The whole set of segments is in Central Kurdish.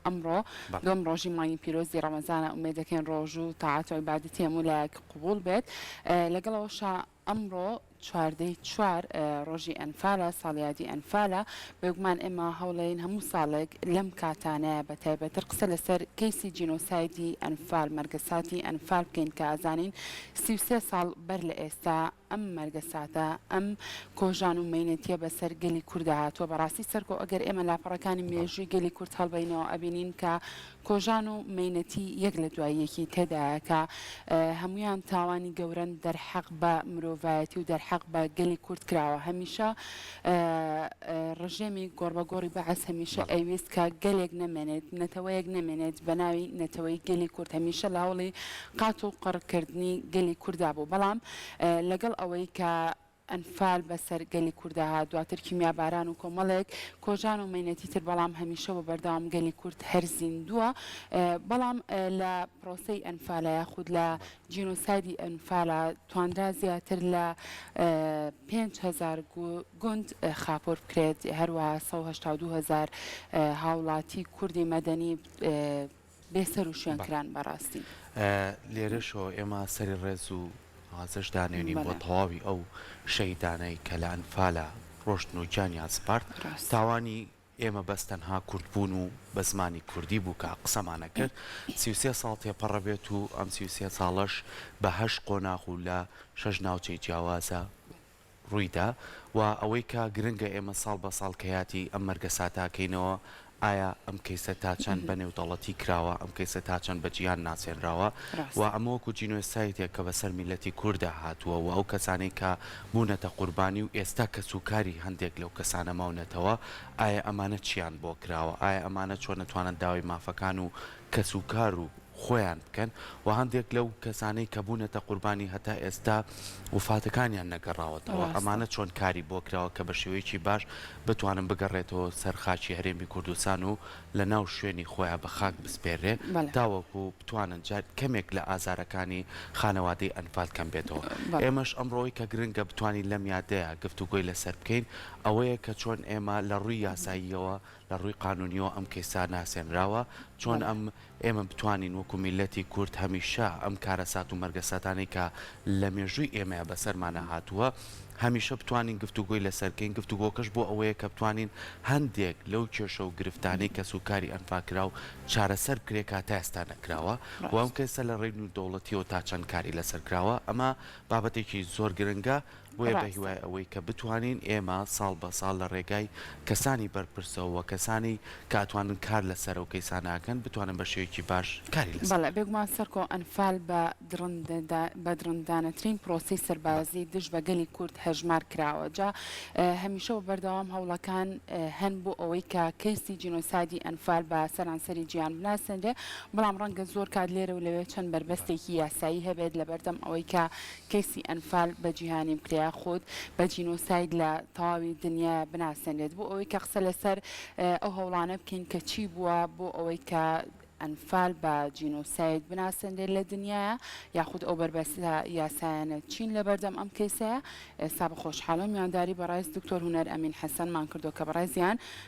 ئەمڕۆ دووەم ڕۆژی مانگی پیرۆزی ڕەمەزانە ئومێد دەکەین ڕۆژ و تاعەت و عیبادەتی هەموو لایەک قبوڵ بێت لەگەڵ ئەوەشا ئەمڕۆ چواردەی چوار ڕۆژی ئەنفالە ساڵیادی ئەنفالە بێگومان ئێمە هەوڵێن هەموو ساڵێک لەم کاتانەیە بە تایبەتر قسە لەسەر کەیسی جینۆسایدی ئەنفال مەرگەساتی ئەنفال بکەین کە ئازانین سی و سێ ساڵ بەر لە ئێستا ئەم مەرگە ساتە ئەم کۆژان و مەینەتیە بەسەر گەلی کوردا هاتوە بەڕاستی سەرکۆ ئەگەر ئێمە لاپەڕەکانی مێژوی گەلی کورد هەڵبەینەوە ئەبینین کە کۆژان و مەینەتی یەک لە دوای یەکی تێدایە کە هەمویان تاوانی گەورەن دەرحەق بە مرۆڤایەتی و دەرحەق بە گەلی کورد کراوە هەمیشە ڕژێمی گۆڕبەگۆڕی بەعس هەمیشە ئەیویست کە گەلێک نەمێنێت نەتەوەیەک نەمێنێت بەناوی نەتەوەی گەلی کورد هەمیشە لە هەوڵی قات و قڕکردنی گەلی کوردا بوو بەڵام لەگەڵ ئەوەی کە ئەنفال بە سەر گەلی کورددا هات، دواتر کیمیاباران و کۆمەڵێک کۆژان و مەینەتی تر بەڵام هەمیشە و بەردەوام گەلی کورد هەر زیندووە بەڵام لە پرۆسەی ئەنفالا یاخود لە جینۆسایدی ئەنفالا توانرا زیاتر لە پێنج هەزار گوند خاپور بکرێت هەروەها سەد و هەشتا و دوو هەزار هاوڵاتی کوردی مەدەنی بێ سەر و شوێن کران بەڕاستی. لێرەشەوە ئێمە سەری ڕێز و نوازش دانێنین بۆ تەواوی ئەو شەهیدانەی کە لە ئەنفالا ڕۆشتن و گیانیان سپارد، تاوانی ئێمە بەس تەنها کورد بوون و بە زمانی کوردی بوو کە قسەمان ئەکرد، سی و سێ ساڵ تێپەڕە بێت و ئەم سی و سێ ساڵەش بە هەشت قۆناغ و لە شەش ناوچەی جیاوازە، ڕوویدا و ئەوەی کە گرنگە ئێمە ساڵ بە ساڵ کەیاتی ئەم مەرگە ساتاکەینەوە ئایا ئەم کەیسە تا چەند بە نێودەڵەتی کراوە ئەم کەیسە تا چەند بە جیهان ناسێنراوە و ئەمە وەکو جینۆسایتێک کە بەسەر میلەتی کوردا هاتووە و ئەو کەسانەی کە بوونەتە قوربانی و ئێستا کەس و کاری هەندێک لەو کەسانە ماونەتەوە ئایا ئەمانە چیان بۆ کراوە ئایا ئەمانە چۆن ئەتوانن داوای مافەکان و کەس و کار و خۆیان بکەن و هەندێک لەو کەسانەی کە بوونەتە قوربانی هەتا ئێستا وفاتەکانیان نەگەڕاوەتەوە ئەمانە چۆن کاری بۆ کراوە کە بە شێوەیەکی باش بتوانن بگەڕێتەوە سەر خاکی هەرێمی کوردستان و لە ناو شوێنی خۆیان بە خاک بسپێررێ تاوەکو بتوانن جار کەمێک لە ئازارەکانی خانەوادەی ئەنفال کەم بێتەوە ئێمەش ئەمڕۆی کە گرنگە بتوانین لەم یادەیە گفتوگۆی لەسەر بکەین ئەوەیە کە چۆن ئێمە لە ڕووی یاساییەوە لە ڕووی قانونیەوە ئەم کەیسا ناسێنراوە چۆن ئەم ئێمە بتوانین وەکو میللەتی کورد هەمیشە ئەم کارەسات و مەرگەساتانەی کە لە مێژووی ئێمەیە بەسەرمانا هاتووە هەمیشە بتوانین گفتوگۆی لەسەر بکەین، گفتوگۆکەش بۆ ئەوەیە کە بتوانین هەندێک لەو کێشە و گرفتانەی کەس و کاری ئەنفالکراو چارەسەر بکرێت کە تا ئێستا نەکراوە و ئەم کەیسە لە ڕێی نێودەوڵەتیەوە تا چەند کاری لەسەر کراوە ئەمە بابەتێکی زۆر گرنگە. بۆیە بە ڕاستە. هیوای ئەوەی کە بتوانین ئێمە ساڵ بە ساڵ لە ڕێگای کەسانی بەرپرسەوە و کەسانی کە ئەتوانن کار لە سەرە و کەیسانە ئەکەن بتوانن بە شێوەیەکی باش کاری لە سەر بەڵێ بێگومان سەرکۆ ئەنفال بە دڕندەدا بە دڕندانەترین پرۆسەی بە. سەربازی دژ بە گەلی کورد هەژمار کراوە جا هەمیشە و بەردەوام هەوڵەکان هەن بۆ ئەوەی کە کەیسی جینۆسایدی ئەنفال بە سەرانسەری جیهان بناسێنرێ بەڵام ڕەنگە زۆر کات لێرە و لەوێ چەند بەربەستێکی یاسایی هەبێت لە بەردەم ئەوەی کە کەیسی ئەنفال بە جیهانی بکرێ خود بە جینۆساید لە تەواوی دنیا بناسێنرێت بۆ ئەوەی کە قسە لەسەر ئەو هەوڵانە بکەین کە چی بووە بۆ ئەوەی کە ئەنفال بە جینۆساید بناسێنرێت لە دنیاە یاخود ئەو بەربەستە یاسایانە چین لە بەردەم ئەم کەیسەیە ئێستا بە خۆشحاڵی میوانداری بەڕێز دکتۆر هونەر ئەمین حەسەنمان کردو کە بەڕێزیان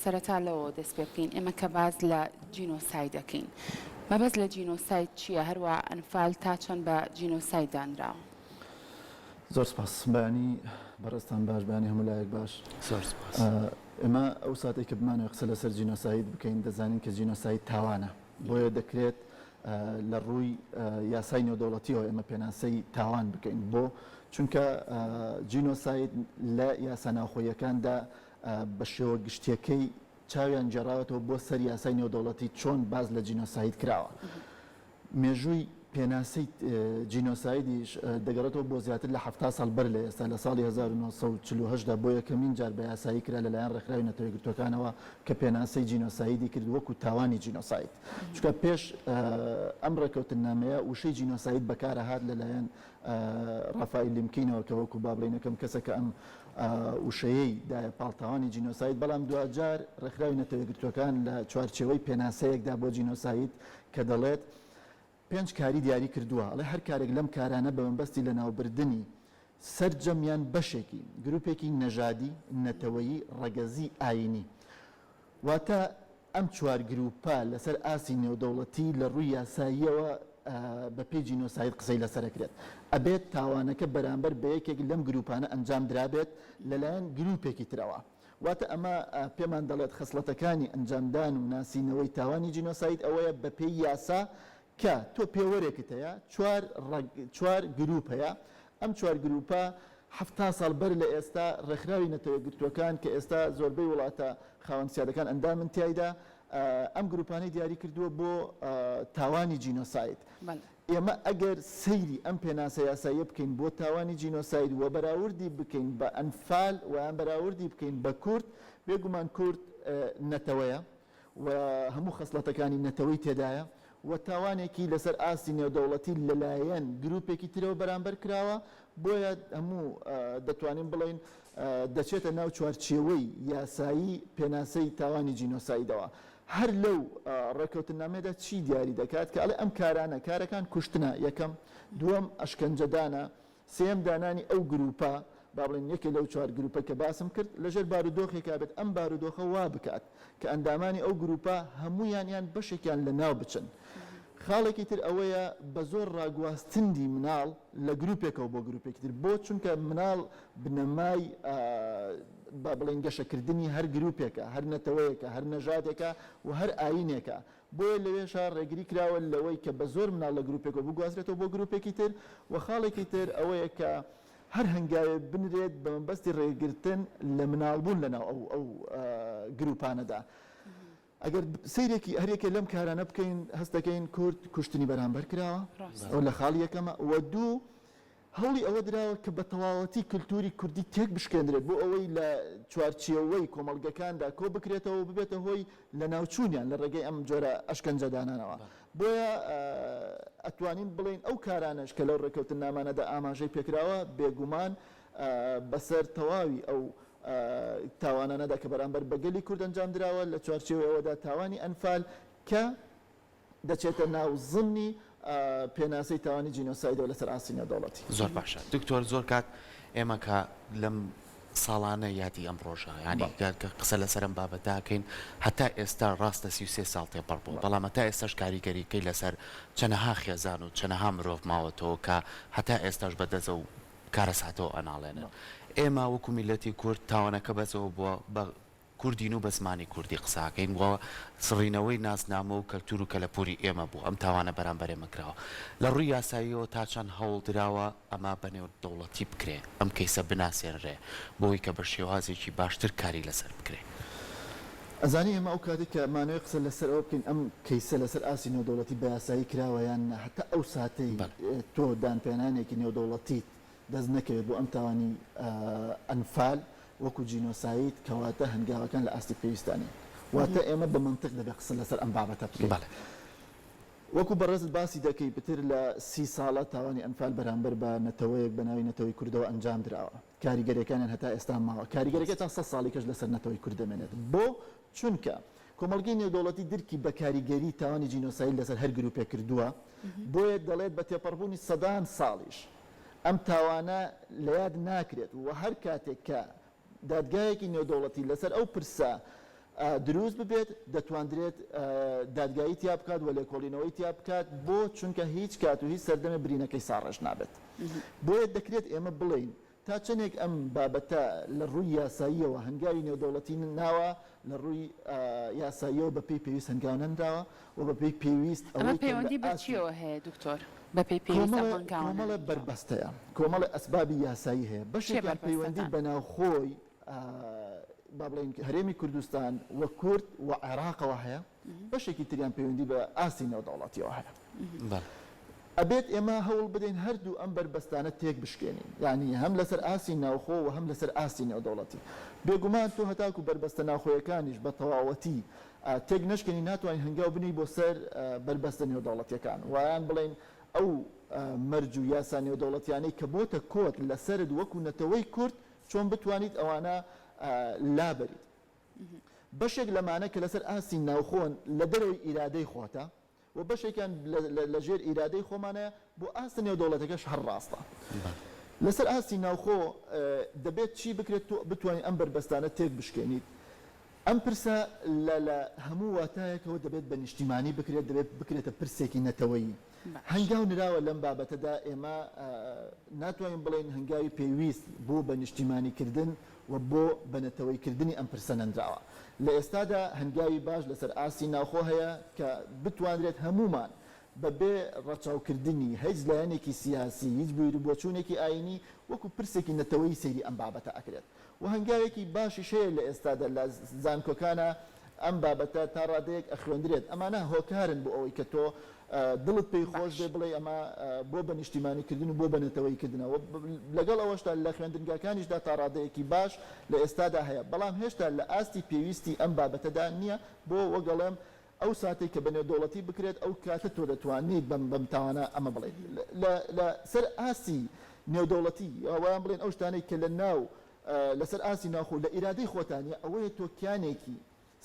سەرەتا لەوەوە دەست پێ بکەین ئێمە کە باس لە جینۆساید دەکەین مەبەست لە جینۆساید چییە هەروەها ئەنفال تا چەند بە جینۆساید دانراوە؟ زۆر سپاس بەیانی بەڕێزتان باش بەیانی هەموو لایەک باش. زۆر سپاس. ئێمە ئەو ساتەی کە بمانەوێت قسە لەسەر جینۆساید بکەین دەزانین کە جینۆساید تاوانە بۆیە دەکرێت لە ڕووی یاسای نێودەوڵەتیەوە ئێمە پێناسەی تاوان بکەین بۆ چونکە جینۆساید لە یاسا ناوخۆیەکاندا بە شێوە گشتیەکەی چاویان گێڕاوەتەوە بۆ سەر یاسای نێودەوڵەتی چۆن باس لە جینۆساید کراوە. مێژووی پێناسی جینۆسایدیش دەگەڕێتەوە بۆ زیاتر لە حەفتا ساڵ بەر لە ئێستا، لە ساڵی هەزار و نۆ سەد و چل و هەشت دا بۆ یەکەمین جار بە یاسایی کرا لەلایەن ڕێکخراوی نەتەوە یەکگرتووەکانەوە کە پێناسەی جینۆسایدی کرد وەکو تاوانی جینۆساید. چونکە پێش ئەم ڕێککەوتننامەیە وشەی جینۆساید بەکارهات لەلایەن ڕافائیل لیمکینەوە کە وەکوو با بڵێین یەکەم کەسە کە ئەم وشەیەی دایە پاڵ تاوانی جینۆساید، بەڵام دواجار ڕێکخراوی نەتەوە یەکگرتووەکان لە چوارچێوەی پێناسەیەکدا بۆ جینۆساید کە دەڵێت پێنج کاری دیاری کردووە، ئەڵێ هەر کارێک لەم کارانە بە مەبەستی لەناوبردنی سەرجەم یان بەشێکی گرووپێکی نەژادی، نەتەوەیی، ڕەگەزی، ئایینی. واتە ئەم چوار گرووپە لەسەر ئاستی نێودەوڵەتی لە ڕووی یاساییەوە بە پێی جینۆساید قسەی لەسەر ئەکرێت، ئەبێت تاوانەکە بەرامبەر بە یەکێک لەم گرووپانە ئەنجام درابێت لەلایەن گرووپێکی ترەوە. واتە ئەمە پێمان دەڵێت خەسڵەتەکانی ئەنجامدان و ناسینەوەی تاوانی جینۆساید ئەوەیە بە پێی یاسا کە تۆ پێوەرێکت هەیە چوار ڕەگ چوار گرووپ هەیە ئەم چوار گرووپە حەفتا ساڵ بەر لە ئێستا ڕێکخراوی نەتەوە یەکگرتووەکان کە ئێستا زۆربەی وڵاتە خاوەن سیادەکان ئەندامن تیایدا ئەم گرووپانەی دیاری کردووە بۆ تاوانی جینۆساید ئێمە ئەگەر سەیری ئەم پێناسە یاساییە بکەین بۆ تاوانی جینۆساید و بەراوردی بکەین بە ئەنفال ویان بەراوردی بکەین بە کورد بێگومان کورد نەتەوەیە و هەموو خەسڵەتەکانی نەتەوەی تێدایە و تاوانێکی لەسەر ئاستی نێودەوڵەتی لەلایەن گروپێکی ترەوە بەرامبەر کراوە، بۆیە هەموو دەتوانین بڵێین دەچێتە ناو چوارچێوەی یاسایی پێناسەی تاوانی جینۆسایدەوە. هەر لەو ڕێکەوتننامەیەدا چی دیاری دەکات کە ئەڵێ ئەم کارانە، کارەکان کوشتنە، یەکەم، دووەم ئەشکەنجەدانە، سێیەم دانانی ئەو گرووپە، با بڵێین یەکێ لەو چوار گرووپەی کە باسم کرد، لەژێر بارودۆخێکا بێت ئەم بارودۆخە وا بکات کە ئەندامانی ئەو گرووپە هەموویان یان بەشێکیان لەناو بچن. خاڵێکی تر ئەوەیە بە زۆر ڕاگواستندی مناڵ لە گرووپێکەوە بۆ گرووپێکی تر. بۆ؟ چونکە مناڵ بنەمای با بڵێین گەشەکردنی هەر گرووپێکە، هەر نەتەوەیەکە، هەر نەژادێکە و هەر ئایینێکە. بۆیە لەوێشە ڕێگری کراوە لەوەی کە بەزۆر مناڵ لە گروپێکەوە بگوازرێتەوە بۆ گروپێکی تر و خاڵێکی تر ئەوەیە کە هەر هەنگاوێ بنرێت بە مەبەستی ڕێگرتن لە مناڵ بوون لەناو ئەو ئەو گروپانەدا ئەگەر سیرێکی هەرێکە لەم کارانە بکەین هەستەکەین کورد کوشتنی بەرامبەر کراوە ئەو لە خاڵ یەکەمە و دوو هەوڵی ئەوە دراوە کە بە تەواوەتی کلتووری کوردی تێک بشکێندرێت بۆ ئەوەی لە چوارچێوەی کۆمەڵگەکاندا کۆ بکرێتەوە و ببێتە هۆی لە ناو چوونیان لە ڕێگەی ئەم جۆرە ئەشکەنجە دانانەوە. بۆیە ئەتوانین بڵێین ئەو کارانەش کە لەو ڕێککەوتننامانەدا ئاماژەی پێکراوە بێ گومان بە سەر تەواوی ئەو تاوانانەدا کە بەرامبەر بە گەلی کورد ئەنجام دراوە لە چوارچێوەی ئەوەدا تاوانی ئەنفال کە دەچێتە ناو زمنی پێناسەی تاوانی جینۆسایدەوە لەسەر ئاستی نێودەوڵەتی. زۆر باشە دکتۆر زۆر کات ئێمە کە لەم ساڵانە یادی ئەم ڕۆژە یانی کە قسە لەسەر ئەم بابەتاکەین هەتا ئێستا ڕاستە سی و سێ ساڵ تێپەڕ بوو بەڵام هەتا ئێستاش کاریگەریکەی لەسەر چەنەها خێزان و چەنەها مرۆڤ ماوەتەوە کە هەتا ئێستاش بە دەزە و کارەساتەوە ئەناڵێنن ئێمە وەکو میلەتی کورد تاوانەکە بەسەوە بووە بە کوردین و بە زمانی کوردی قساکەین و سڕینەوەی نازنامە و کەلتور و کەلەپوری ئێمە بووە، ئەم تاوانە بەرامبەر ئێمە کراوە. لە ڕووی یاساییەوە تا چەند هەوڵ دراوە ئەمە بە نێودەوڵەتی بکرێ، ئەم کەیسە بناسێنرێ بۆوەی کە بە شێوازێکی باشتر کاری لەسەر بکرێ. ئەزانی ئێمە ئەو کاتەی کە مانەوەی قسە لەسەر ئەوە بکەین ئەم کەیسە لەسەر ئاستی نێودەوڵەتی بە یاسایی کراوە یان نا، هەتا ئەو ساتەی تۆ دانپیانانێکی نێودەوڵەتیت دەست نەکەوێت بۆ ئەم تاوانی ئەنفال وەکو جینۆساید کەواتە هەنگاوەکان لە ئاستی پێویستدا نین واتە ئێمە بە مەنتق دەبێت قسە لەسەر ئەم بابەتە بکەین وەکو بەڕێزت باسی دەکەی پتر لە سی ساڵە تاوانی ئەنفال بەرامبەر بە نەتەوەیەک بە ناوی نەتەوەی کوردەوە ئەنجام دراوە کاریگەریەکانیان هەتا ئێستا ماوە کاریگەریەکە تا سەد ساڵی کەش لەسەر نەتەوەی کورد دەمێنێت بۆ چونکە کۆمەڵگەی نێودەوڵەتی درکی بە کاریگەری تاوانی جینۆساید لەسەر هەر گروپێک کردووە بۆیە دەڵێت بە تێپەڕبوونی سەدان ساڵیش ئەم تاوانە لە یاد ناکرێت و هەر کاتێک کە دادگایەکی نێودەوڵەتی لەسەر ئەو پرسە دروست ببێت دەتواندرێت دادگایی تیا بکات و لێکۆڵینەوەی تیا بکات بۆ چونکە هیچ کات و هیچ سەردەمە برینەکەی ساڕێژ نابێت بۆیە دەکرێت ئێمە بڵێین تا چەندێک ئەم بابەتە لە ڕووی یاساییەوە هەنگاوی نێودەوڵەتی ناوە لە ڕووی یاساییەوە بەپی پێویست هەنگاو نەنراوە و بە پێی پێویست ئەوەی کە لە ئاستی. ئەمە پەیوەندی بە چییەوە هەیە دکتۆر؟ بە پێی پێویست ئەم هەنگاوانە. کۆمەڵێ بەربەست هەیە، کۆمەڵێ ئەسبابی یاسایی هەیە، بەشێکیان پەیوەندی بە ناوخۆی با بڵێین هەرێمی کوردستان و کورد و عێراقەوە هەیە، بەشێکی تریان پەیوەندی بە ئاستی نێودەوڵەتییەوە هەیە. ئەبێت ئێمە هەوڵ بدەین هەردوو ئەم بەربەستانە تێک بشکێنین، یانی هەم لەسەر ئاستی ناوخۆ و هەم لەسەر ئاستی نێودەوڵەتی. بێگومان تۆ هەتاکوو بەربەستە ناوخۆیەکانیش بە تەواوەتی تێک نەشکێنین ناتوانین هەنگاو بنێین بۆ سەر بەربەستە نێودەوڵەتییەکان و یان بڵێین ئەو مەرج و یاسا نێودەوڵەتییانەی کە بۆتە کۆت لە سەرت وەکوو نەتەوەی کورد چۆن بتوانیت ئەوانە لابەریت. بەشێک لەمانە کە لە سەر ئاستی ناوخۆن لە دەرەوەی ئیرادەی خۆتە، و بەشێکیان لە ژێر ئیرادەی خۆمانەیە، بۆ ئاست نێودەوڵەتیەکەش هەر ڕاستە. لەسەر ئاستی ناوخۆ دەبێت چی بکرێت تۆ بتوانیت ئەم بەربەستانە تێک بشکێنیت؟ ئەم پرسە لە لە هەموو واتایەکەوە دەبێت بە نیشتیمانی بکرێت، دەبێت بکرێتە پرسێکی نەتەوەیی. هەنگاو نراوە لەم بابەتەدا، ئێمە ناتوانین بڵێین هەنگاوی پێویست بۆ بە نیشتیمانیکردن و بۆ بەنەتەوەی کردنی ئەم پرسە نەنراوە. لە ئێستادا هەنگاوی باش لەسەر ئاستی ناوخۆ هەیە کە بتوانرێت هەموومان بە بێ ڕەچاو کردنی هیچ لایەنێکی سیاسی، هیچ بیروبۆچوونێکی ئایینی وەکو پرسێکی نەتەوەیی سەیری ئەم بابەتە ئەکرێت و هەنگاوێکی باشیش هەیە لە ئێستادا لە زانکۆکانا، ئەم بابەتە تا ڕادەیەک ئەخوێندرێت، ئەمانە هۆکارن بۆ ئەوەی کە تۆ دڵت پێی خۆش بێ، باش. بڵێی ئەمە بۆ بە نیشتیمانیکردن و بۆ بە نەتەوەییکردنە و لەگەڵ ئەوەشدا لە خوێندنگاکانیشدا تا ڕادەیەکی باش لە ئێستادا هەیە، بەڵام هێشتا لە ئاستی پێویستی ئەم بابەتەدا نییە، بۆ وەگەڵێم ئەو ساتەی کە بە نێودەوڵەتی بکرێت ئەو کاتە تۆ دەتوانیت بەم بەم تاوانە ئەمە بڵێیت لە لە سەر ئاستی نێودەوڵەتی، یان بڵێین ئەو شتانەی کە لە ناو لەسەر ئاستی ناوخۆ لە ئیرادەی خۆتا نیە، ئەوەیە تۆ کیانێکی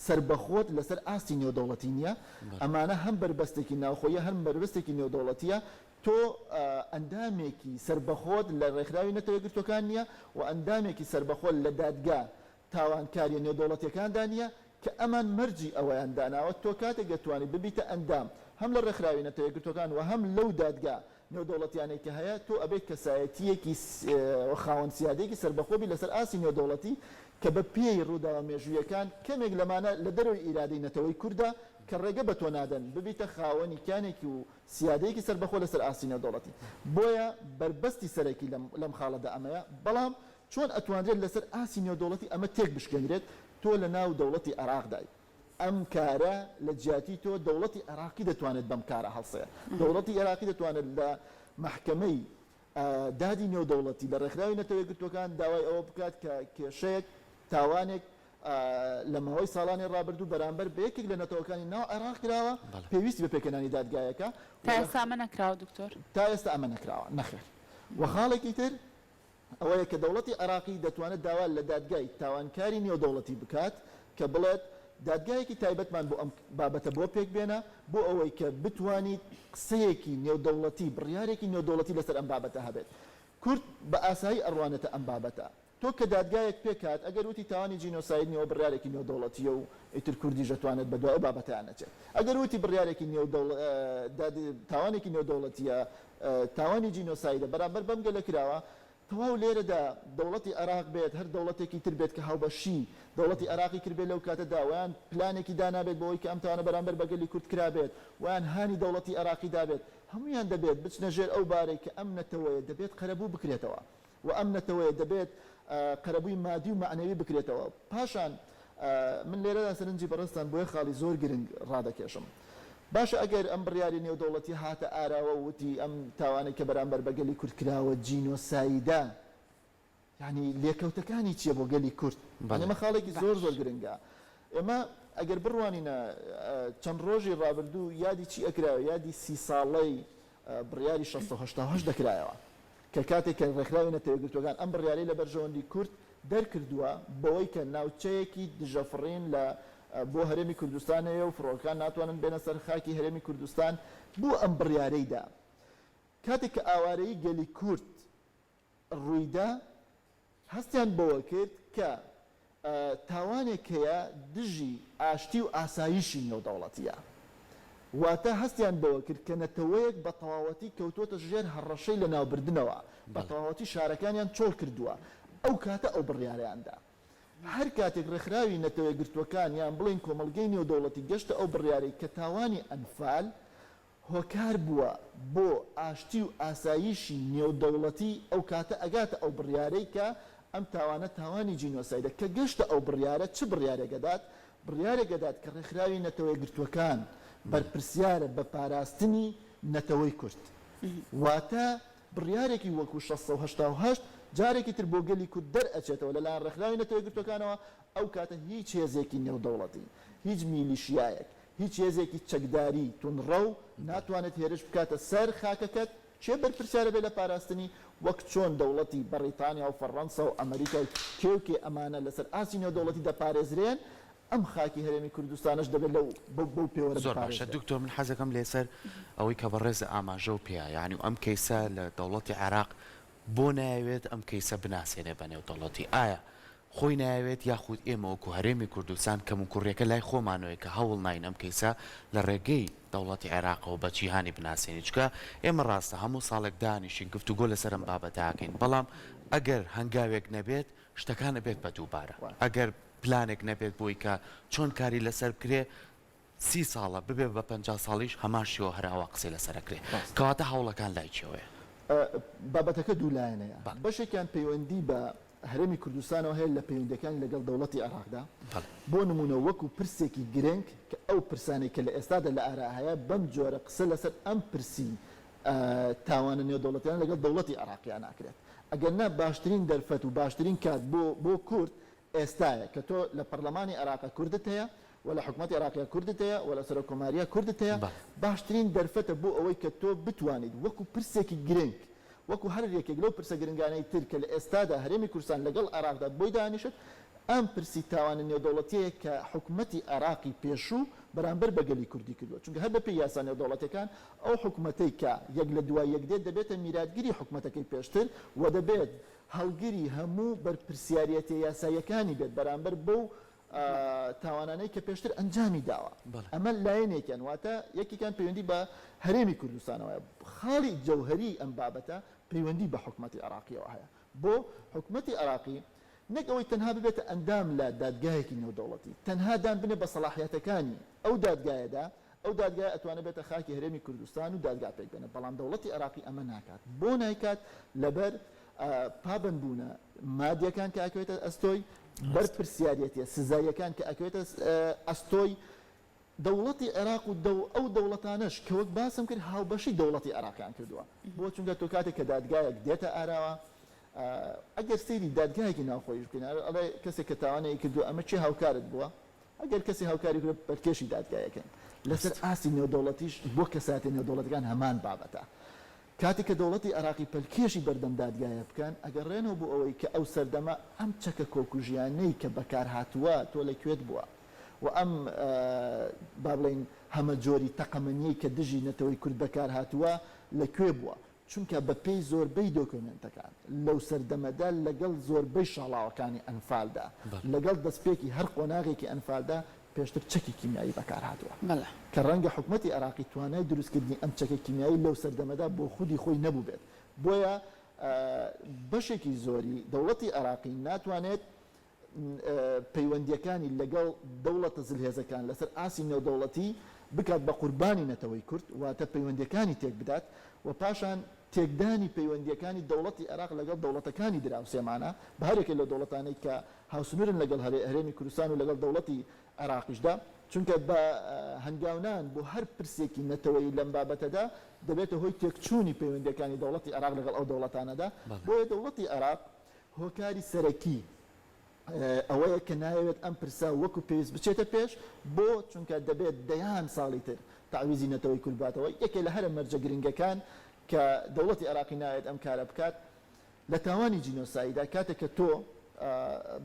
سەربەخۆت لەسەر ئاستی نێودەوڵەتی نیە، ئەمانە هەم بەربەستێکی ناوخۆیە هەم بەربەستێکی نێودەوڵەتیە، تۆ ئەندامێکی سەربەخۆت لە ڕێکخراوی نەتەوە یەکگرتووەکان نیە و ئەندامێکی سەربەخۆت لە دادگا تاوانکاریە نێودەوڵەتیەکاندا نیە کە ئەمان مەرجی ئەوەیان داناوە تۆ کاتێک دەتوانیت ببیتە ئەندام هەم لە ڕێکخراوی نەتەوە یەکگرتووەکان و هەم لەو دادگا نێودەوڵەتیانەی کە هەیە، تۆ ئەبێت کەسایەتییەکی و خاوەن سیادەیەکی سەربەخۆ بیت لەسەر ئاستی نێودەوڵەتی کە بە پێی ڕووداوە مێژوویەکان کەمێک لەمانە لە دەرەوەی ئیرادەی نەتەوەی کوردە کە ڕێگە بە تۆ نادەن ببیتە خاوەنی کیانێکی و سیادەیەکی سەربەخۆ لەسەر ئاستی نێودەوڵەتی بۆیە بەربەستی سەرەکی لەم لەم خاڵەدا ئەمەیە بەڵام چۆن ئەتوانرێت لەسەر ئاستی نێودەوڵەتی ئەمە تێک بشکێنرێت تۆ لە ناو دەوڵەتی عێراقدایت ئەم کارە لە جیاتی تۆ دەوڵەتی عێراقی دەتوانێت بەم کارە هەڵسێ دەوڵەتی عێراقی دەتوانێت لە مەحکەمەی دادی نێودەوڵەتی لە ڕێکخراوی نەتەوە یەکگرتووەکان داوای ئەوە بکات کە کێشەیەک تاوانێک لە ماوەی ساڵانی ڕابردوو بەرامبەر بە یەکێک لە نەتەوەکانی ناو عێراق کراوە پێویستی بە پێکەنانی دادگایەکە تا ئێستا ئەمە نەکراوە دکتۆر تا ئێستا ئەمە نەکراوە نەخێر و خاڵێکی تر ئەوەیە کە دەوڵەتی عێراقی دەتوانێت داوا لە دادگای تاوانکاری نێودەوڵەتی بکات کە بڵێت دادگایەکی تایبەتمان بۆ ئەم بابەتە بۆ پێک بێنە بۆ ئەوەی کە بتوانیت قسەیەکی نێودەوڵەتی بڕیارێکی نێودەوڵەتی لەسەر ئەم بابەتە هەبێت کورد بە ئاسایی ئەڕوانێتە ئەم بابەتە تۆ کە دادگایەک پێک هات ئەگەر وتی تاوانی جینۆساید نیە ئەوە بڕیارێکی نێودەوڵەتیە و ئیتر کوردیش ئەتوانێت بەدوای ئەو بابەتەیان نەچێت ئەگەر وتی بڕیارێکی نێودەوڵ داد تاوانێکی نێودەوڵەتیە تاوانی جینۆسایدە بەرامبەر بەم گەلە کراوە، تەواو لێرەدا دەوڵەتی عێراق بێت هەر دەوڵەتێکی تر بێت کە هاوبەشی دەوڵەتی عێراقی کردبێت لەو کاتەدا وەیان پلانێکی دانابێت بۆ ئەوەی کە ئەم تاوانە بەرامبەر بە گەلی کورد کرابێت وەیان هانی دەوڵەتی عێراقی دابێت هەموویان دەبێت بچنە ژێر ئەو بارەی کە ئەم نەتەوەیە دەبێت قەرەبوو بکرێتەوە. و ئەم نەتەوەیە دەبێت قەرەبووی مادی و مەعنەوی بکرێتەوە پاشان من لێرەدا سەرنجی بەڕێزتان بۆ یەک خاڵی زۆر گرنگ ڕادەکێشم باشە ئەگەر ئەم بڕیاری نێودەوڵەتی هاتە ئاراوە و وتی ئەم تاوانەی کە بەرامبەر بە گەلی کورد کراوە جینۆسایدە یەعنی لێکەوتەکانی چیە بۆ گەلی کورد یەعنی ئەمە خاڵێکی زۆر زۆر گرنگە ئێمە ئەگەر بڕوانینە چەند ڕۆژی ڕابردوو یادی چی ئەکرا یادی سی ساڵەی بڕیاری شەست سەد و هەشتا و هەشت دەکرایەوە کە کاتێک کە ڕێکخراوی نەتەوە یەکگرتووەکان ئەم بڕیارەی لە بەرژەوەندی کورد دەرکردووە بەوەی کە ناوچەیەکی دژە فڕین لە بۆ هەرێمی کوردستان هەیە و فڕۆکەکان ناتوانن بێنە سەر خاکی هەرێمی کوردستان بۆ ئەم بڕیارەی دا کاتێک کە ئاوارەیی گەلی کورد رویدا، هەستیان بەوە کرد کە تاوانێک هەیە دژی ئاشتی و ئاسایشی نێودەوڵەتییە. واتە هەستیان بەوە کرد کە نەتەوەیەک بە تەواوەتی کەوتووەتە ژێر هەڕەشەی لەناوبردنەوە، بە تەواوەتی شارەکانیان چۆڵ کردووە. ئەو کاتە ئەو بڕیارەیان دا. هەر کاتێک رێکخراوی نەتەوەیەکگرتووەکان یان بڵێین کۆمەڵگەی نێودەوڵەتی گەشتە ئەو بڕیارەی کە تاوانی ئەنفال هۆکار بووە بۆ ئاشتی و ئاسایشی نێودەوڵەتی ئەو کاتە ئەگاتە ئەو بڕیارەی کە ئەم تاوانە تاوانی جینۆسایدە کە گەشتە ئەو بڕیارە چ بڕیارێک ئەدات بڕیارێک ئەدات کە ڕێکخراوی نەتەوەیەکگرتووەکان بەرپرسیارە بە پاراستنی نەتەوەی کورد واتە بڕیارێکی وەکو شەست سەد و هەشتا و هەشت جارێکی تر بۆ گەلی کورد دەرئەچێتەوە لەلایەن ڕێکخراوی نەتەوەیەکگرتووەکانەوە ئەو کاتە هیچ هێزێکی نێودەوڵەتی، هیچ میلیشیایەک، هیچ هێزێکی چەکداری توندڕەو ناتوانێت هێرش بکاتە سەر خاکەکەت، کێ بەرپرسیارە بێت لە پاراستنی؟ وەک چۆن دەوڵەتی بەڕیتانیا و فەڕەنسا و ئەمەریکا و کێ و کێ ئەمانە لەسەر ئاستی نێودەوڵەتی دەپارێزرێن، ئەم خاکی هەرێمی کوردستانەش دەبێت لەو بەو پێوەرە زۆر باشە بپارێزرێت. دکتۆر من حەزەکەم لێسەر ئەوەی کە بەڕێزە ئاماژەو پێیا یانی ئەم کەیسە لە دەوڵەتی عێراق بۆ نایەوێت ئەم کەیسە بناسێنێ بە نێودەوڵەتی ئایا خۆی نایەوێت یاخود ئێمە وەکو هەرێمی کوردستان کەموکوڕیەکە لای خۆمانەوەیە کە هەوڵ ناین ئەم کەیسە لە ڕێگەی دەوڵەتی عێراقەوە بە جیهانی بناسێنین چونکە ئێمە ڕاستە هەموو ساڵێک دانیشین گفتوگۆ لەسەر ئەم بابەتە ئەکەین بەڵام ئەگەر هەنگاوێک نەبێت شتەکان ئەبێت بە دووبارە ئەگەر پلانێک نەبێت بۆی کە چۆن کاری لەسەر بکرێت سی ساڵە ببێ بە پەنجا ساڵیش هەمان شێوە هەر ئاوا قسەی لەسەر ئەکرێ ڕاستە. کەواتە هەوڵەکان لای کێوەیە؟ بابەتەکە دوو لایەنەیە بەڵێ. بەشێکیان پەیوەندی بە هەرێمی کوردستانەوە هەیە لە پەیوەندیەکانی لەگەڵ دەوڵەتی عێڕاقدا بەڵێ. بۆ نموونە وەکو پرسێکی گرنگ کە ئەو پرسانەی کە لە ئێستادا لە ئارا هەیە بەم جۆرە قسە لەسەر ئەم پرسی تاوانە نێودەوڵەتیانە لەگەڵ دەوڵەتی عێڕاقیا ناکرێت ئەگەر نا باشترین دەرفەت و باشترین کات بۆ بۆ کورد ئێستایە کە تۆ لە پەڕلەمانی عێراقە کوردت هەیە و لە حکومەتی عێراقیە کوردت هەیە و لە سەرۆک کۆماریە کوردت هەیە باشترین دەرفەتە بۆ ئەوەی کە تۆ بتوانیت وەکو پرسێکی گرنگ وەکو هەر یەکێک لەو پرسە گرنگانەی تر کە لە ئێستادا هەرێمی کوردستان لەگەڵ عێراقدا بۆی دانیشت ئەم پرسی تاوانە نێودەوڵەتیەیە کە حکومەتی عێراقی پێشوو بەرامبەر بە گەلی کوردی کردوە چونکە هەر بەپێی یاسا نێودەوڵەتیەکان ئەو حکومەتەی کە یەک لە دوای یەک دێت دەبێتە میراتگری حکومەتەکەی پێشتر و دەبێت هەڵگری هەموو بەرپرسیاریەتە یاساییەکانی بێت بەرامبەر بەو تاوانانەی کە پێشتر ئەنجامی داوە ئەمە لایەنێکیان واتە یەکێکیان پەیوەندی بە هەرێمی کوردستانەوە هەیە خاڵی جەوهەری ئەم بابەتە پەیوەندی بە حکومەتی عێراقیەوە هەیە بۆ حکومەتی عێراقی نەک ئەوەی تەنها ببێتە ئەندام لە دادگایەکی نێودەوڵەتی تەنها دان بنێ بە سەڵاحیاتەکانی ئەو دادگایەدا ئەو دادگایە ئەتوانێت بێتە خاکی هەرێمی کوردستان و دادگا پێک بێنێت، بەڵام دەوڵەتی عێراقی ئەمە ناکات. بۆ نایکات؟ لەبەر پابەندبوونە مادییەکان کە ئەکەوێتە ئەستۆی بەرپرسیاریەتیە سزاییەکان کە ئەکەوێتە ئەستۆی دەوڵەتی عێراق و ئەو دەوڵەتانەش کە وەک باسم کرد هاوبەشی دەوڵەتی عێراقیان کردووە بۆ چونکە تۆ کاتێک کە دادگایەک دێتە ئاراوە ئەگەر سەیری دادگایەکی ناوخۆیش بکەین ئەڵێ کەسێک کە تاوانەیە کردو ئەمە چێ هاوکارت بووە ئەگەر کەسێ هاوکاری بکرێت پەلکێشی دادگا یەکەین. لەسەر ئاستی نێودەوڵەتیش بۆ کەسایەتیە نێودەوڵەتیەکان هەمان بابەتە. کاتێک کە دەوڵەتی عێراقی پەلکێشی بەردەم دادگایە بکەن، ئەگەڕێنەوە بۆ ئەوەی کە ئەو سەردەمە ئەم چەکە کۆکوژیانەی کە بەکار هاتووە تۆ لە کوێت بووە و ئەم با بڵێین هەمەجۆری تەقەمەنیەی کە دژی نەتەوەی کورد بەکار هاتووە لە کوێ بووە؟ چونکە بەپێی زۆربەی دۆکۆمێنتەکان لەو سەردەمەدا لەگەڵ زۆربەی شاڵاوەکانی ئەنفالدا، لەگەڵ دەستپێکی هەر قۆناغێکی ئەنفالدا پێشتر چەکی کیمیایی بەکارهاتووە، کە ڕەنگە حکومەتی عێراقی توانای دروستکردنی ئەم چەکە کیمیایی لەو سەردەمەدا بۆ خودی خۆی نەبووبێت، بۆیە بەشێکی زۆری دەوڵەتی عێراقی ناتوانێت پەیوەندییەکانی لەگەڵ دەوڵەتە زلهێزەکان لەسەر ئاستی نێودەوڵەتی بکات بە قوربانی نەتەوەی کورد، واتە پەیوەندییەکانی تێکبدات و پاشان تێکدانی پەیوەندییەکانی دەوڵەتی عێراق لەگەڵ دەوڵەتەکانی دراوسێمانە بە هەریەکە لەو دەوڵەتانەی کە هاوسنوورن لەگەڵ هەرێمی کوردستان و لەگەڵ دەوڵەتی عێراقیشدا، چونکە بە هەنگاونان بۆ هەر پرسێکی نەتەوەیی لەم بابەتەدا دەبێتە هۆی تێکچوونی پەیوەندییەکانی دەوڵەتی عێراق لەگەڵ ئەو دەوڵەتانەدا، بۆیە دەوڵەتی عێراق هۆکاری سەرەکی ئەوەیە کە نایەوێت ئەم پرسە وەکو پێویست بچێتە پێش، بۆ؟ چونکە دەبێت دەیان ساڵی تر تەعویزی نەتەوەی کورد باتەوە، یەکێ لە هەرە مەرجە گرنگەکان کە دەوڵەتی عێراقی نایەوێت ئەم کارە بکات لە تاوانی جینۆسایدە، کاتێک کە تۆ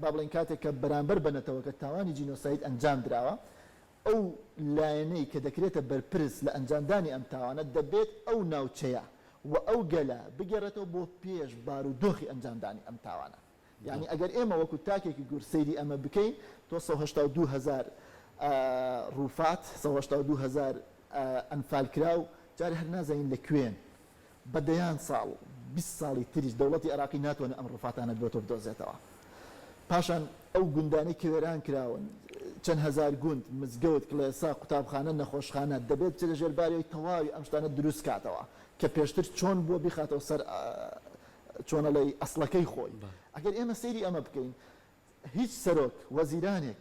با بڵێین کاتێک کە بەرامبەر بە نەتەوەکەت تاوانی جینۆساید ئەنجام دراوە، ئەو لایەنەی کە دەکرێتە بەرپرس لە ئەنجامدانی ئەم تاوانە دەبێت ئەو ناوچەیە و ئەو گەلە بگێڕێتەوە بۆ پێش بارودۆخی ئەنجامدانی ئەم تاوانە یانی ئەگەر ئێمە وەکو تاکێکی گورد سەیری ئەمە بکەین تۆ سەد و هەشتا و دوو هەزار روفات سەد و هەشتا و دوو هەزار ئەنفالکراو جارێ هەر نازانین لە کوێن بە دەیان ساڵ و بیست ساڵی تریش دەوڵەتی عێراقی ناتوانێت ئەم ڕفاتانە بۆ تۆ بدۆزێتەوە. پاشان ئەو گوندانەی کە وێران کراون، چەند هەزار گوند، مزگەوت، کڵێسا، قوتابخانە، نەخۆشخانە، دەبێت بچێتە ژێر بارەوەی تەواوی ئەم شتانە دروست کاتەوە کە پێشتر چۆن بووە بیخاتەوە سەر چۆن ئەڵێی ئەسڵەکەی خۆی. ئەگەر ئێمە سەیری ئەمە بکەین هیچ سەرۆک وەزیرانێک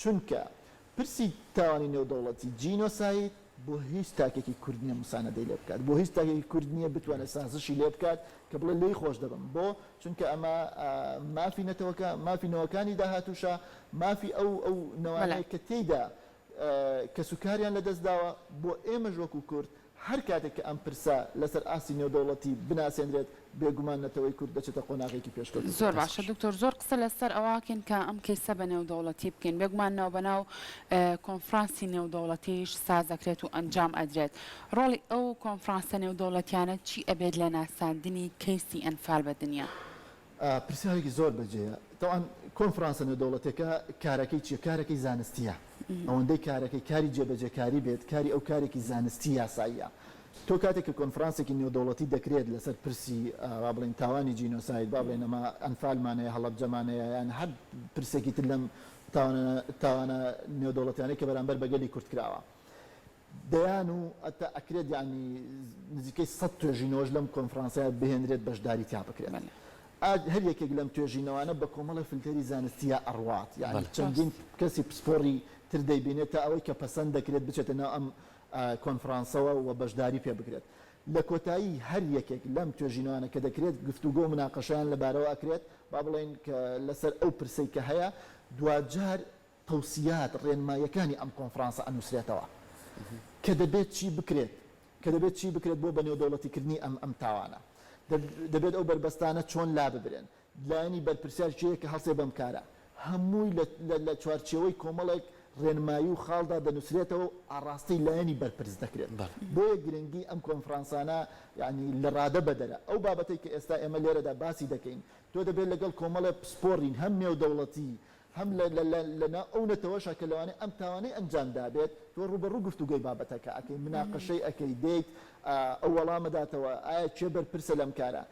چونکە پرسی تاوانی نێودەوڵەتی، جینۆساید، بۆ هیچ تاکێکی کورد نییە موساندەی لێ بکات، بۆ هیچ تاکێکی کورد نییە بتوانێت سازشی لێ بکات کە بڵێت لێی خۆش دەبم، بۆ؟ چونکە ئەمە مافی نەتەوەکە، مافی نەوەکانی داهاتووشە، مافی ئەو ئەو نەوانەیە کە تێیدا کەسوکاریان لەدەست داوە، بۆ ئێمەش وەکو کورد، هەر کاتێک کە ئەم پرسە لەسەر ئاستی نێودەوڵەتی بناسێندرێت، بێگومان نەتەوەی کورد دەچێتە قۆناغێکی پێشکەوتووتر. زۆر باشە دکتۆر زۆر قسە لەسەر ئەوەکەین کە ئەم کەیسە بە نێودەوڵەتی بکەین بێگومان ناوبەناو کۆنفرانسی نێودەوڵەتیش ساز ئەکرێت و ئەنجام ئەدرێت ڕۆڵی ئەو کۆنفرانسە نێودەوڵەتیانە چی ئەبێت لە ناساندنی کەیسی ئەنفال بە دنیا؟ پرسیارێکی زۆر بە جێیە تەوان کۆنفرانسە نێودەوڵەتێکە کارەکەی چیە کارەکەی زانستیە ئەوەندەی کارەکەی کاری جێبەجێکاری بێت کاری ئەو کارێکی زانستی یاساییە تۆ کاتێک کە کۆنفرانسێکی نێودەوڵەتی دەکرێت لەسەر پرسی با بڵێن تاوانی جینۆساید با بڵێن ئەمە ئەنفالمانەیە هەڵەبجەمانەیە یان هەر پرسێکی تر لەم تاوانە تاوانە نێودەوڵەتیانەی کە بەرامبەر بە گەلی کورد کراوە دەیان و هەتا ئەکرێت یانی نزیکەی سەد توێژینەوەش لەم کۆنفرانسەیا بهێنرێت بەشداری تیا بکرێت ئا هەر یەکێک لەم توێژینەوانە بە کۆمەڵە فلتەری زانستیە ئەڕوات یانی چەندین کەسی پسپۆڕی تر دەیبینێت تا ئەوەی کە پەسەند دەکرێت بچێتە ناو ئەم کۆنفرانسەوە و بەشداری پێ بکرێت لە کۆتایی هەر یەکێک لەم توێژینەوانە کە دەکرێت گفتوگۆ و مناقەشەیان لەبارەوە ئەکرێت با بڵێین کە لەسەر ئەو پرسەی کە هەیە دواجار تەوسیات، ڕێنماییەکانی ئەم کۆنفرانسە ئەنووسرێتەوە کە دەبێت چی بکرێت کە دەبێت چی بکرێت بۆ بەنێودەوڵەتیکردنی ئەم ئەم تاوانە. دەبێت ئەو بەربەستانە چۆن لاببرێن. لایەنی بەرپرسیار کێیە کە هەڵسێ بەم کارە. هەمووی لە لە چوارچێوەی کۆمەڵێک ڕێنمایی و خاڵدا دەنووسرێتەوە و ئاڕاستەی لایەنی بەرپرس دەکرێت. بۆیە گرنگی ئەم کۆنفرانسانە یانی لەڕادەبەدەرە. ئەو بابەتەی کە ئێستا ئێمە لێرەدا باسی دەکەین، تۆ دەبێت لەگەڵ کۆمەڵێ پسپۆڕی هەم نێودەوڵەتی هەم لە لە لە ناو ئەو نەتەوەشە کە لەوانەیە ئەم تاوانەی ئەنجام دابێت، تۆ ڕووبەڕوو گفتوگۆی بابەتەکە ئەکەی، مناقەشەی ئەکەی، دێیت ئەو وەڵامە داتەوە، ئایا کێ بەرپرسە لەم کارە؟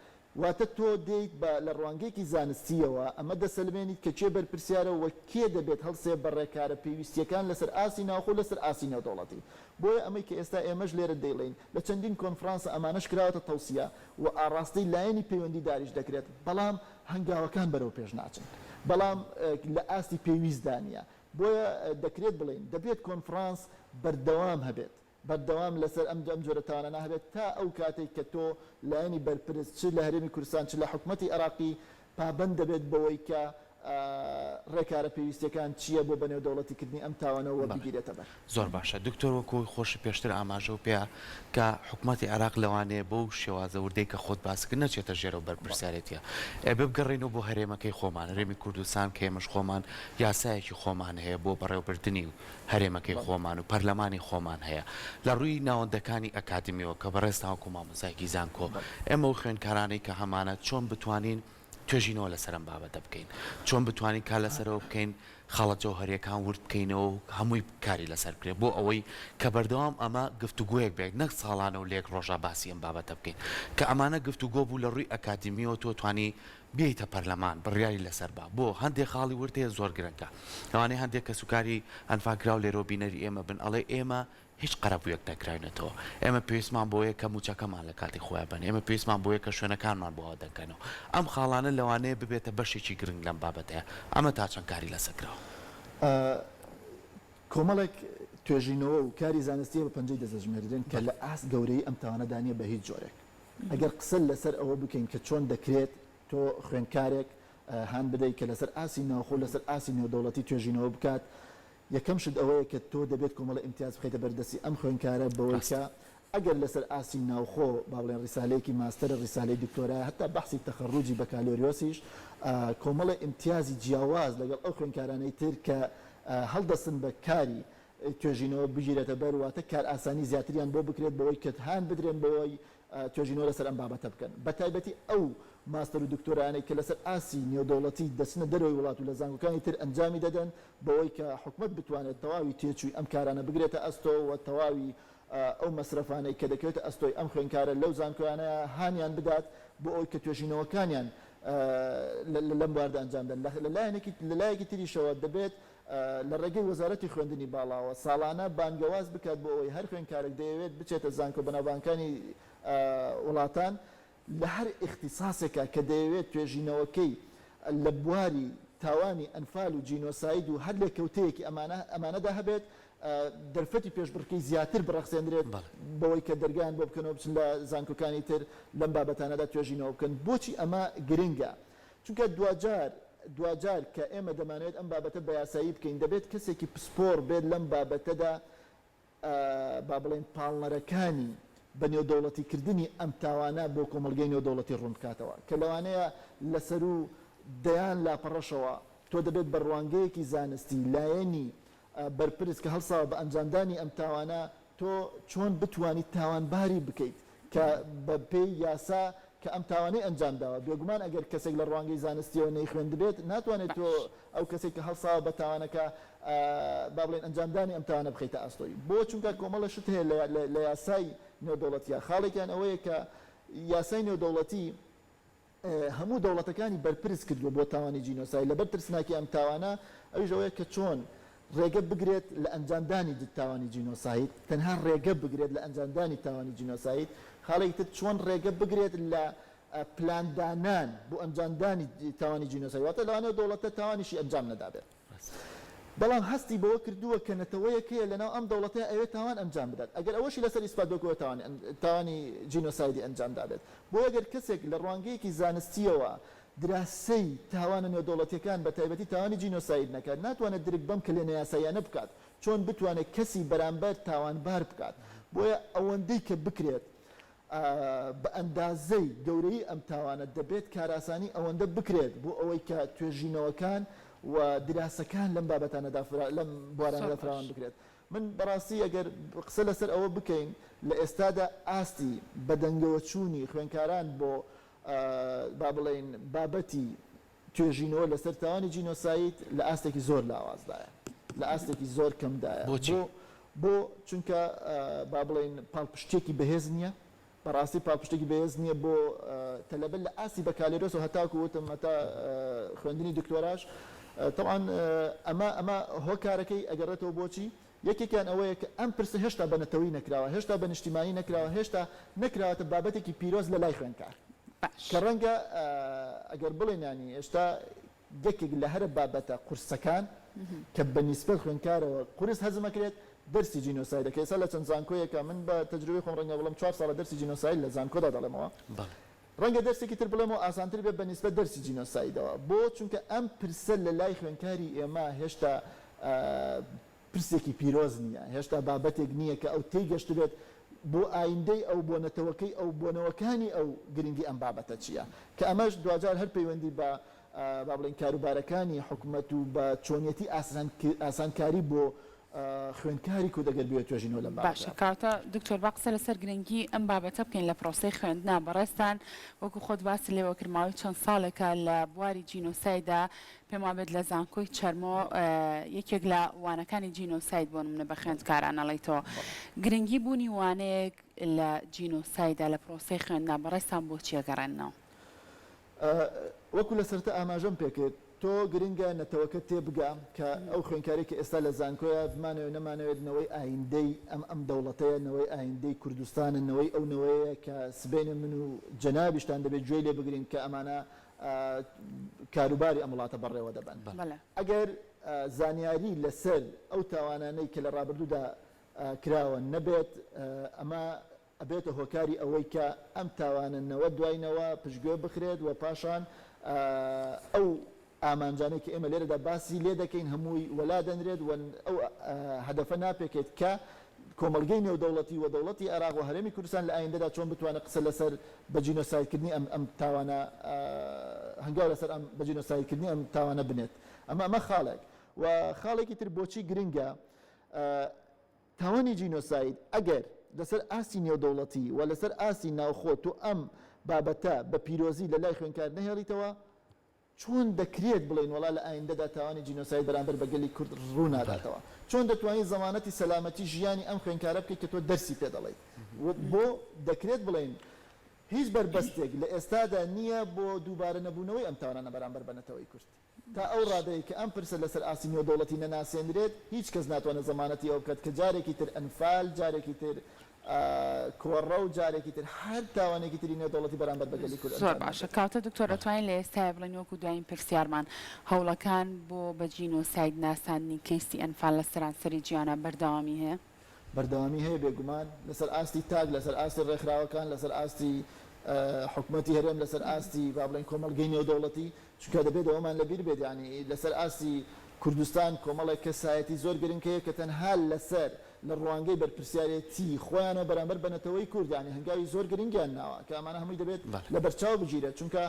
واتە تۆ دێیت بە لە ڕوانگەیەکی زانستییەوە ئەمە دەسەلمێنیت کە کێ بەرپرسیارە و کێ دەبێت هەڵسێ بە ڕێکارە پێویستییەکان لەسەر ئاستی ناوخۆ و لەسەر ئاستی نێودەوڵەتی. بۆیە ئەمەی کە ئێستا ئێمەش لێرە دەیڵێین، لە چەندین کۆنفڕانسە ئەمانەش کراوەتە تەوسیە و ئاڕاستەی لایەنی پەیوەندیداریش دەکرێت، بەڵام، هەنگاوەکان بەرەو پێش ناچن، بەڵام لە ئاستی پێویستدا نییە، بۆیە دەکرێت بڵێین دەبێت کۆنفرانس بەردەوام هەبێت، بەردەوام لەسەر ئەم جۆرە تاوانانە هەبێت تا ئەو کاتەی کە تۆ لایەنی بەرپرس چ لە هەرێمی کوردستان چ لە حکومەتی عێراقی پابەند دەبێت بەوەی کە رێکارە پێویستیەکان چییە بۆ بەنێودەوڵەتیکردنی ئەم تاوانە وەبگیرێتەبەر. زۆر باشە دکتۆر وەکو خۆشی پێشتر ئاماژەو پێا کا حکومەتی عێراق لەوانەیە بەو شێوازە وردەی کە خۆت باسکرد نەچێتە ژێرەو بەرپرسیارێتیە ئێ ببگەڕێنەوە بۆ هەرێمەکەی خۆمان هەرێمی کوردستان کە ئێمەش خۆمان یاسایەکی خۆمان هەیە بۆ بەڕێوبردنی و هەرێمەکەی خۆمان و پەرلەمانی خۆمان هەیە لە ڕووی ناوەندەکانی ئەکادمیەوە کە بەڕێزتان وەکو مامۆستایەکی زانکۆ ئێمە و خوێنکارانەی کە هەمانە چۆن بتوانین توێژینەوە لەسەر ئەم بابەتە بکەین، چۆن بتوانین کار لەسەرەوە بکەین، خاڵە جەوهەرییەکان ورد بکەینەوە و هەمووی کاری لەسەر بکرێت، بۆ ئەوەی کە بەردەوام ئەمە گفتوگۆیەک بێت، نەک ساڵانە و لە یەک ڕۆژا باسی ئەم بابەتە بکەین، کە ئەمانە گفتوگۆ بوو لە ڕووی ئەکادیمییەوە تۆ توانی بێیتە پەرلەمان بڕیاری لەسەر با، بۆ هەندێک خاڵی ورد هەیە زۆر گرنگە، لەوانەیە هەندێک کەسوکاری ئەنفاکراو لێرەوە بینەری ئێمە بن، ئەڵێ ئێمە هیچ قەرەبوویەک نەکراوینەتەوە، ئێمە پێویستمان بەوەیە کە مووچەکەمان لە کاتی خۆیان بەن، ئێمە پێویستمان بەوەیە کە شوێنەکانمان بۆ ئاودەکەنەوە. ئەم خاڵانە لەوانەیە ببێتە بەشێکی گرنگ لەم بابەتەیە. ئەمە تا چەند کاری لەسەر کراوە؟ کۆمەڵێک توێژینەوە و کاری زانستی هەیە بە پەنجەی دەست دەژمێردرێن کە لە ئاست گەورەیی ئەم تاوانەدا نییە بە هیچ جۆرێک. ئەگەر قسە لەسەر ئەوە بکەین کە چۆن دەکرێت تۆ خوێندکارێک هان بدەیت کە لەسەر ئاستی ناوخۆ و لەسەر ئاستی نێودەوڵەتی توێژینەوە بکات، یەکەم شت ئەوەیە کە تۆ دەبێت کۆمەڵە ئیمتیاز بخەیتە بەر دەستی ئەم خوێندکارە بەوەی کە ڕاستە. ئەگەر لەسەر ئاستی ناوخۆ با بڵێن ڕیسالەیەکی ماستەرە ڕیسالەی دکتۆرایە هەتا بەحسی تەخەڕوجی بەکالۆریۆسیش کۆمەڵە ئیمتیازی جیاواز لەگەڵ ئەو خوێندکارانەی تر کە هەڵدەستن بە کاری توێژینەوە بگیرێتە بەر واتە کارئاسانی زیاتریان بۆ بکرێت بەوەی کە هان بدرێن بەوەی توێژینەوە لەسەر ئەم بابەتە بکەن، بەتایبەتی ئەو ماستەر و دکتۆرایانەی کە لەسەر ئاستی نێودەوڵەتی دەچنە دەرەوەی وڵات و لە زانکۆکانی تر ئەنجامی دەدەن، بەوەی کە حکومەت بتوانێت تەواوی تێچووی ئەم کارانە بگرێتە ئەستۆ و تەواوی ئەو مەسرەفانەی کە دەکەوێتە ئەستۆی ئەم خوێندکارە لەو زانکۆیانە هانیان بدات بۆ ئەوەی کە توێژینەوەکانیان لەم بواردە ئەنجام بدەن، لە لایەکی تریشەوە دەبێت لە ڕێگەی وەزارەتی خوێندنی باڵاوە ساڵانە بانگەواز بکات بۆ ئەوەی هەر خوێندکارێک دەیەوێت بچێتە زانکۆ بەناوبانگەکانی وڵاتان لە هەر ئیختیساسێکا کە دەیەوێت توێژینەوەکەی لە بواری تاوانی ئەنفال و جینۆساید و هەر لێکەوتەیەکی ئەمانە ئەمانەدا هەبێت دەرفەتی پێشبڕکێی زیاتر بڕەخسێندرێت بەوەی کە دەرگایان بۆ بکەنەوە بچن لە زانکۆکانی تر لەم بابەتانەدا توێژینەوە بکەن بۆچی ئەمە گرنگە چونکە دواجار دواجار کە ئێمە دەمانەوێت ئەم بابەتە بەیاسایی بکەین دەبێت کەسێکی پسپۆڕ بێت لەم بابەتەدا با بڵێین پاڵنەرەکانی بە نێودەوڵەتی کردنی ئەم تاوانە بۆ کۆمەڵگەی نێودەوڵەتی ڕوون بکاتەوە کە لەوانەیە لە سەروو دەیان لاپەڕەشەوە تۆ دەبێت بە ڕوانگەیەکی زانستی لایەنی بەرپرس کە هەڵساوە بە ئەنجامدانی ئەم تاوانە، تۆ چۆن بتوانیت تاوانباری بکەیت کە بە پێی یاسا کە ئەم تاوانەی ئەنجام داوە؟ بێگومان ئەگەر کەسێک لە ڕوانگەی زانستییەوە نەیخوێندبێت، ناتوانێت تۆ باش. ئەو کەسەی کە هەڵساوە بە تاوانەکە، با بڵێین ئەنجامدانی ئەم تاوانە بخەیتە ئاستۆی. بۆ؟ چونکە کۆمەڵە شت هەیە لە لە لە یاسای نێودەوڵەتییە، خاڵێکیان ئەوەیە کە یاسای نێودەوڵەتی، هەموو دەوڵەتەکانی بەرپرس کردووە بۆ تاوانی جینۆساید، لەبەر ترسناکی ئەم تاوانە، ئەویش ئەوەیە کە چۆن ڕێگە بگرێت لە ئەنجامدانی تاوانی جینۆساید، تەنها ڕێگە بگرێت لە ئەنجامدانی تاوانی جینۆساید، خاڵێکی تر چۆن ڕێگە بگرێت لە پلاندانان بۆ ئەنجامدانی تاوانی جینۆساید، واتە لەوانەیە دەوڵەتە تاوانیشی ئەنجام نەدابێت. بەڵام هەستی بەوە کردووە کە نەتەوەیەک هەیە لەناو ئەم دەوڵەتەی ئەوێت تاوان ئەنجام بدات ئەگەر ئەوەشی لەسەر ئیسپات بکوە تاوانی جینۆسایدی ئەنجام دابێت بۆیە گەر کەسێک لە ڕوانگەیەکی زانستیەوە دراسەی تاوانە نێودەوڵەتیەکان بەتایبەتی تاوانی جینۆساید نەکات ناتوانێت درک بەم کەلێ نایاساییانە بکات چۆن بتوانێت کەسی بەرامبەر تاوانبار بکات بۆیە ئەوەندەی کە بکرێت بە ئەندازەی گەورەیی ئەم تاوانە دەبێت کارئاسانی ئەوەندە بکرێت بۆ ئەوەی کە توێژینەوەکان و دراسەکان لەم بابەتانەدا لەم بوارانەدا فراوان بکرێت. من بەڕاستی ئەگەر قسە لەسەر ئەوە بکەین لە ئێستادا ئاستی بەدەنگەوەچوونی خوێندکاران بۆ با بڵێین بابەتی توێژینەوە لەسەر تاوانی جینۆساید لە ئاستێکی زۆر لاوازدایە، لە ئاستێکی زۆر کەمدایە. بۆچی؟ بۆ؟ چونکە با بڵێین پاڵپشتییەکی بەهێز نییە، بە ڕاستی پاڵپشتێکی بەهێز نییە بۆ تەلەبە لە ئاستی بەکالۆرۆسەوە هەتاکوو وتم هەتا خوێندنی دکتۆراش. تەبعەن ئەمە ئەمە هۆکارەکەی ئەگەڕێتەوە بۆچی؟ یەکێکیان ئەوەیە کە ئەم پرسە هێشتا بە نەتەوەی نەکراوە، هێشتا بە نیشتیمانی نەکراوە، هێشتا نەکراوەتە بابەتێکی پیرۆز لە لای خوێندکار. کە باش. ڕەنگە ئەگەر بڵێین یانی ئێشتا یەکێک لە هەرە بابەتە قورسەکان کە بە نیسبەت خوێندکارەوە قورس هەزم ئەکرێت دەرسی جینۆسایدە کە ئێستا لە چەند زانکۆیەکا من بە تەجروبەی خۆم ڕەنگە بڵێم چوار ساڵە دەرسی جینۆساید لە زانکۆدا دەڵێمەوە بەڵێ. ڕەنگە دەرسێکی تر بڵێمەوە ئاسانتر بێت بەنیسبەت دەرسی جینۆسایدەوە، بۆ؟ چونکە ئەم پرسە لەلای خوێندکاری ئێمە هێشتا پرسێکی پیرۆز نییە، هێشتا بابەتێک نییە کە ئەو تێیگەشتبێت بۆ ئایندەی ئەو، بۆ نەتەوەکەی ئەو، بۆ نەوەکانی ئەو گرنگی ئەم بابەتە چییە؟ کە ئەمەش دواجار هەر پەیوەندی بە با بڵێین کاروبارەکانی حکومەت و بە چۆنیەتی ئاسانکاری بۆ خوێندکاری کورد ئەگەر بوێت توێژینەوە لەم بابەتە بکات. باشە کەواتە دکتۆر با قسە لەسەر گرنگی ئەم بابەتە بکەین لە پرۆسەی خوێندنا بەڕێزتان وەکو خۆت باست لێوە کرد ماوەی چەند ساڵێکە لە بواری جینۆسایدا پێم وابێت لە زانکۆی چەرمۆ یەکێک لە وانەکانی جینۆساید بۆ نمونە بە خوێندکاران ئەڵێیتەوە گرنگی بوونی وانەیەک لە جینۆسایدا لە پرۆسەی خوێندنا بەڕێزتان بۆچی ئەگەڕێننەوە؟ وەکو لەسەرەتا ئاماژەم پێکرد تۆ گرنگە نەتەوەکەت تێبگا کە ئەو خوێندکارەی کە ئێستا لە زانکۆیە بمانەوێت نەمانەوێت نەوەی ئایندەی ئەم ئەم دەوڵەتەیە نەوەی ئایندەی کوردستانە نەوەی ئەو نەوەیەیە کە سبەینێ من و جەنابیشتان دەبێت گوێی لێ بگرین کە ئەمانە کاروباری ئەم وڵاتە بەڕێوە دەبەن ئەگەر زانیاری لەسەر ئەو تاوانانەی کە لە ڕابردوودا کراوە نەبێت ئەمە ئەبێتە هۆکاری ئەوەی کە ئەم تاوانە نەوە دوای نەوە پشتگوێ بخرێت و پاشان ئەو ئامانجانەی کە ئێمە لێرەدا باسی لێ دەکەین هەمووی وەلا دەنرێت و ئەو هەدەفە ناپێکێت کە کۆمەڵگەی نێودەوڵەتی و دەوڵەتی عێراق و هەرێمی کوردستان لە ئایندەدا چۆن بتوانێت قسە لەسەر بە جینۆسایدکردنی ئەم ئەم تاوانە هەنگاو لەسەر ئەم بە جینۆسایدکردنی ئەم تاوانە بنێت ئەمە ئەمە خاڵێک و خاڵێکی تر بۆچی گرنگە تاوانی جینۆساید ئەگەر لەسەر ئاستی نێودەوڵەتی و لەسەر ئاستی ناوخۆ تۆ ئەم بابەتە بە پیرۆزی لە لای خوێنکار نەهێڵیتەوە، چۆن دەکرێت بڵێین وەڵا لە ئایندەدا تاوانی جینۆساید بەرامبەر بە گەلی کورد ڕوو ناداتەوە؟ چۆن دەتوانیت زەمانەتی سەلامەتی ژیانی ئەم خوێنکارە بکەیت کە تۆ دەرسی پێ دەڵێیت؟ بۆ دەکرێت بڵێین هیچ بەربەستێک لە ئێستادا نییە بۆ دووبارە نەبوونەوەی ئەم تاوانانە بەرامبەر بە نەتەوەی کورد؟ تا ئەو ڕادەی کە ئەم پرسە لەسەر ئاستی نێودەوڵەتی نەناسێندرێت، هیچ کەس ناتوانێت زەمانەتی ئەوە بکات کە جارێکی تر ئەنفال، جارێکی تر کۆڕە و جارێکی تر هەر تاوانێکی تری نێودەوڵەتی بەرامبەر بە گەلی کورد ئەنجام بدرێت. زۆر باشە. کاوتە دکتۆر دەتوانین لە ئێستایا بڵێین وەکو دوایین پرسیارمان، هەوڵەکان بۆ بە جینۆساید ناساندنی کەیسی ئەنفال لە سەرانسەری جیهانا بەردەوامی هەیە؟ بەردەوامی هەیە بێگومان لەسەر ئاستی تاک لەسەر ئاستی ڕێکخراوەکان لەسەر ئاستی حکومەتی هەرێم لەسەر ئاستی با بڵێن کۆمەڵگەی نێودەوڵەتی چونکە دەبێت ئەوەمان لەبیر بێت یعنی لەسەر ئاستی کوردستان کۆمەڵێک کەسایەتی زۆر گرنگ هەیە کە تەنها لەسەر لە ڕوانگەی بەرپرسیارێتی خۆیانەوە بەرامبەر بە نەتەوەی کورد یعنی هەنگاوی زۆر گرنگیان ناوە کە ئەمانە هەمووی دەبێت لەبەرچاو بگیرێت چونکە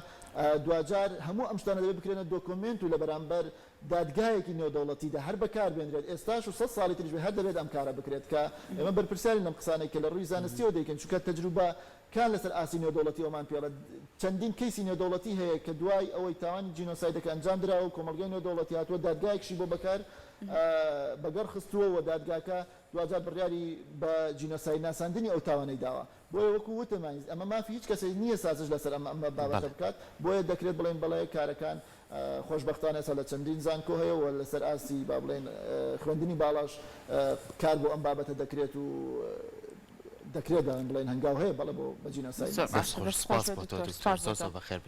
دواجار هەموو ئەم شتانە دەبێت بکرێنە دۆکۆمێنت و لە بەرامبەر دادگایەکی نێودەوڵەتیدا هەر بەکاربێنرێت ئێستاش و سەد ساڵی تریش بێت هەر دەبێت ئەم کارە بکرێت کە ئێمە بەرپرسیارین لەم قسانەی کە لە ڕووی زانستیەوە دەیکەین چونکە تەجروبە کان لەسەر ئاستی نێودەوڵەتی ئەومان پێڵێت چەندین کەیسی نێودەوڵەتی هەیە کە دوای ئەوەی تاوانی جینۆسایدەکە ئەنجام دراوە و کۆمەڵگای نێودەوڵەتی هاتووە دادگایەکشی بۆ بەکار بەگەڕ خستووە و دادگاکە دواجار بڕیاری بە جینۆساید ناساندنی ئەو تاوانەی داوە. بۆیە وەکو وتم ئەمە مافی هیچ کەسێک نییە سازش لەسەر ئەم ئەم بابەتە بەڵێ. بکات، بۆیە دەکرێت بڵێین بەڵێ کارەکان خۆشبەختانە ئێستا لە چەندین زانکۆ هەیە و لەسەر ئاستی با بڵێین خوێندنی باڵاش کار بۆ ئەم بابەتە دەکرێت و دەکرێت بڵێین هەنگاو هەیە بەڵێ بۆ بە جینۆساید. زۆر باشە دەست خۆش بێت دکتۆر سپاس بۆ تۆ دکتۆر زۆر زۆر بەخێربێی.